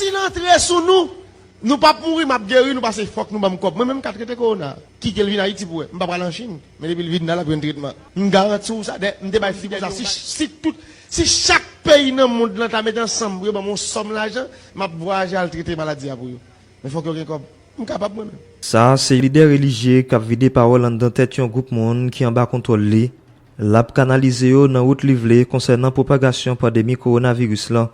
Sil antre sou nou Nou pap mouri map geri nou pase fòk nou banm kòb mwen menm mka trete korona kitel vin ayiti pou wè mpa pral an chine men depil vin la lap jwenn tretman mgaranti w sa dayè mte bay fi konsa si tout si chak peyi nan mond lan ta met ansanm pou yo banm yon sòm lajan map vwayaje al trete maladi a pou yo men fòk yo gen kòb mkapab mwen menm. Sa a se lidè relijye k ap vide pawòl anndan tèt yon gwoup moun ki anba kontwòl li. L ap kanalize yo nan wout li vle konsènan pwopagasyon pandemi kowonaviris lan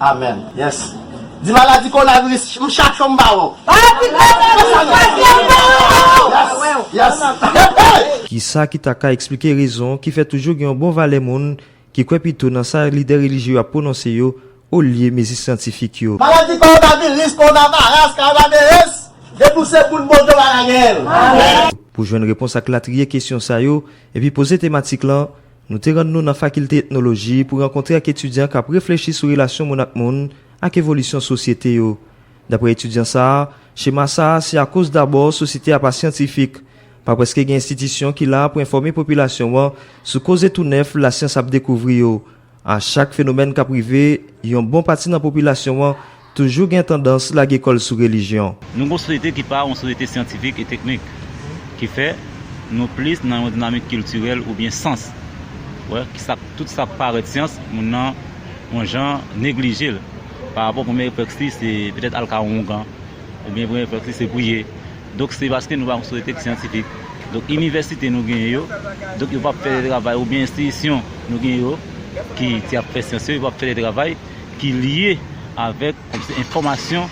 Amen yes di maladi kona viris m chak cho m pa wè w. Ohh pito m wè w chak fwa se m pa wè w m pa wè w. Yes yes. Kisa ki ta ka eksplike rezon ki fè toujou gen yon bon valè moun ki kwè pito nan sa lidè relijye yo ap pwononse yo olye mezi syantifik yo? Maladi kowonaviris, konavaras, kavaneres, depi w se moun Bondye w pa ka genyen l. Pou jwenn repons ak latriye kesyon sa yo epi poze tematik lan, Nou te rann nou nan Fakilte Etnoloji pou rankontre ak etidyan k ap reflechi sou relasyon moun ak moun ak evolisyon sosyete yo. Dapre etidyan sa a, chema sa a se akoz dabò sosyete a pa syantifik. Pa prèske gen enstitisyon ki la pou enfòme popilasyon an sou koze tou nèf lasyans ap dekouvri yo. A chak fenomèn k ap rive, yon bon pati nan popilasyon an Toujou gen tandans lage kò l sou relijyon. Nou gen yon sosyete ki pa yon sosyete syantifik e teknik, ki fè nou plis nan yon dinamik kiltirèl oubyen sans. Wè, ki sa k, tout sa k parèt syans, moun nan, yon jan, neglije l. Pa rapò premye reflèks li se petèt al ka yon oungan, oubyen premye reflèks li se priye. Donk se paske nou pa yon sosyete ki syantifik. Donk inivèsite nou genyen yo, donk yo p ap fè de travay oubyen enstitisyon nou genyen yo ki ap fè syans yo, yo p ap fè de travay. ki lye avèk enfòmasyon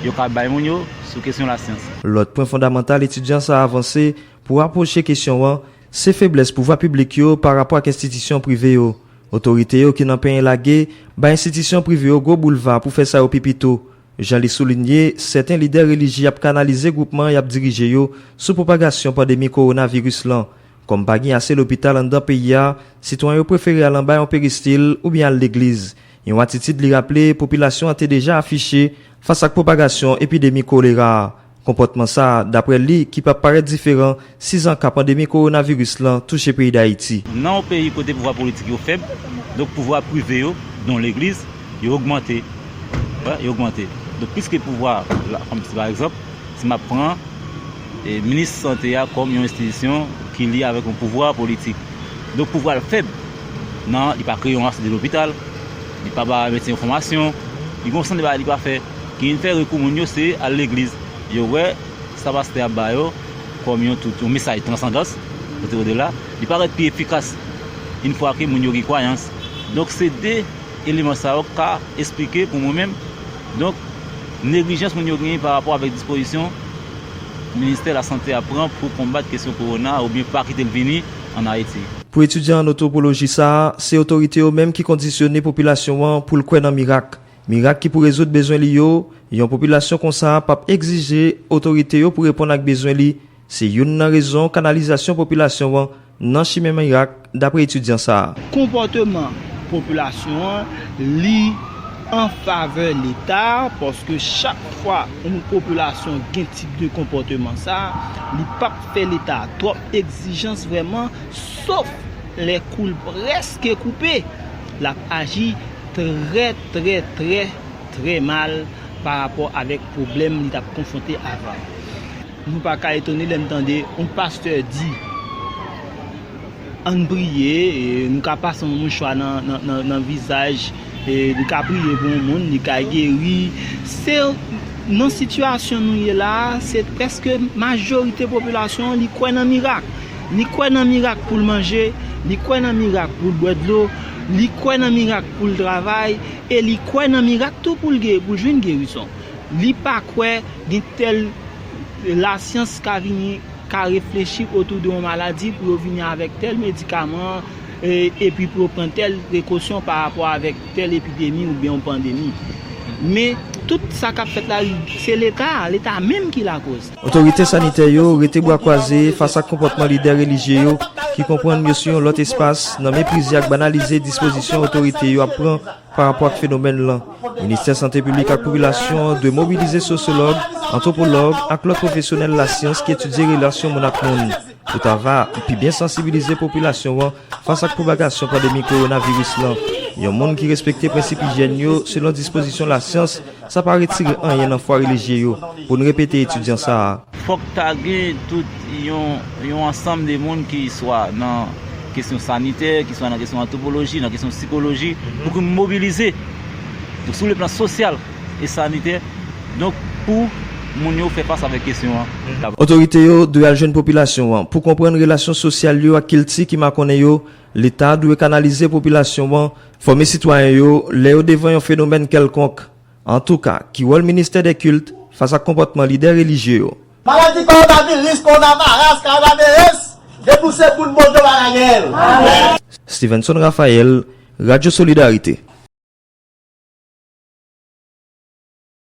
yo ka bay moun yo sou kesyon lasyans. Lòt pwen fondamantal etidyan sa a vanse pou rapwoche kesyon an, se feblès pouvwa piblik yo pa rapò ak enstitisyon prive yo. Otorite yo ki nan penyen lage bay enstitisyon prive yo gwo boulva pou fè sa yo pi pito. Jan li soulinye, sèten lidè relijye ap kanalize gwoupman y ap dirije yo sou pwopagasyon pandemi kowonaviris lan. Kòm pa gen ase lopital anndan peyi a, sitwayen yo prefere al anba yon peristil oubyen al legliz, yon atitid li raple popilasyon an te deja afiche fas ak pwopagasyon epidemi kolera a. Konpòtman sa, daprè li, ki pa parèt diferan 6 an ka pandemi kowonaviris lan touche peyi Dayiti. Nan yon peyi kote pouvwa politik yo fèb, donk pouvwa prive yo, don legliz, yo ogmante, yo ogmante. Donk piske pouvwa, kòm si pa egzanp, si m ap pran. Minis sante a kòm yon enstitisyon ki lye avèk yon pouvwa politik. Donk pouvwa l fèb nan li pa kreye yon asoude lopital, li pa ba medsen yo fòmasyon, li gen yon seri de bagay li pa fè. Ki vin fè rekou moun yo se al legliz. Yo wè sa pastè a ba yo kòm yon tout, yon mesaj transandans, kote o de la, li parèt pi efikas in fwa ke moun yo gen kwayans. Donk se 2 eleman sa yo k ka esplike pou mwen menm. Donk, neglijans moun yo genyen pa rapò avèk dispozisyon Ministè Lasante a pran pou konbat kesyon kowona a oubyen pa kite l vini ann Ayiti. Pou etidyan ann antwopoloji sa a, se otorite yo menm ki kondisyone popilasyon an pou l kwè nan mirak. Mirak ki pou rezoud bezwen li yo, yon popilasyon konsa a p ap egzije otorite yo pou reponn ak bezwen li, Se youn nan rezon kanalizasyon popilasyon an nan chimen mirak, dapre etidyan sa a. Konpòteman popilasyon an, li an favè Leta a, paske chak fwa yon popilasyon gen tip de konpòteman sa a, li p ap fè Leta a twòp egzijans vrèman, sof lè kou l prèske koupe, l ap aji trè trè trè trè mal parapò avèk pwoblèm li t ap konfwonte avan. Nou pa ka etone lè n tande yon pastè di ann priye, nou ka pase yon mouchwa nan vizaj, li ka priye pou yon moun, li ka geri. Se nan sitiyasyon nou ye la a, se prèske majorite popilasyon an li kwè nan mirak. Li kwè nan mirak pou l manje, li kwè nan mirak pou l bwè dlo, li kwè nan mirak pou l travay e li kwè nan mirak tou pou l jwenn gerizon. Li pa kwè gen tèl lasyans ka vini ka reflechi otou de yon maladi pou yo vini avèk tèl medikaman epi pou yo pran tèl prekosyon pa rapò avèk tèl epidemi oubyen yon pandemi. Men, tout sa k ap fèt la, se Leta a, Leta a menm ki lakoz. Otorite sanitè yo rete bwa kwaze fas ak konpòtman lidè relijye yo ki konprann yo sou yon lòt espas nan meprize ak banalize dispozisyon otorite yo ap pran Pa rapò ak fenomèn lan, Ministè Sante Piblik ak Popilasyon an dwe mobilize sosyològ, antwopològ ak lòt pwofesyonèl lasyans ki etidye relasyon moun ak moun pou ta va pi byen sansibilize popilasyon an fas ak pwopagasyon pandemi kowonaviris lan. Yon moun ki respekte prensip ijyèn yo selon dispozisyon lasyans Sa pa retire anyen nan fwa relijye yo pou n repete etidyan sa a. Fòk ta gen tout yon ansanm de moun ki swa nan kesyon sanitè, ki swa nan kesyon antwopoloji, nan kesyon sikoloji, pou ki n mobilize sou le plan sosyal e sanitè, donk pou moun yo fè fas avèk kesyon an. Otorite yo dwe al jwenn popilasyon an pou konprann relasyon sosyal yo ak kilti ki makonnen yo Leta dwe kanalize popilasyon an, fòme sitwayen yo lè yo devan yon fenomèn kèlkonk. Antouka, ki wòl ministè dè kilt fas ak konpòtman lidè relijye yo? Maladi kowonaviris, Coronavirus, Coronavirus, depi w se moun Bondye w pa ka genyen l. Stevenson Raphaël, Radio Solidarité.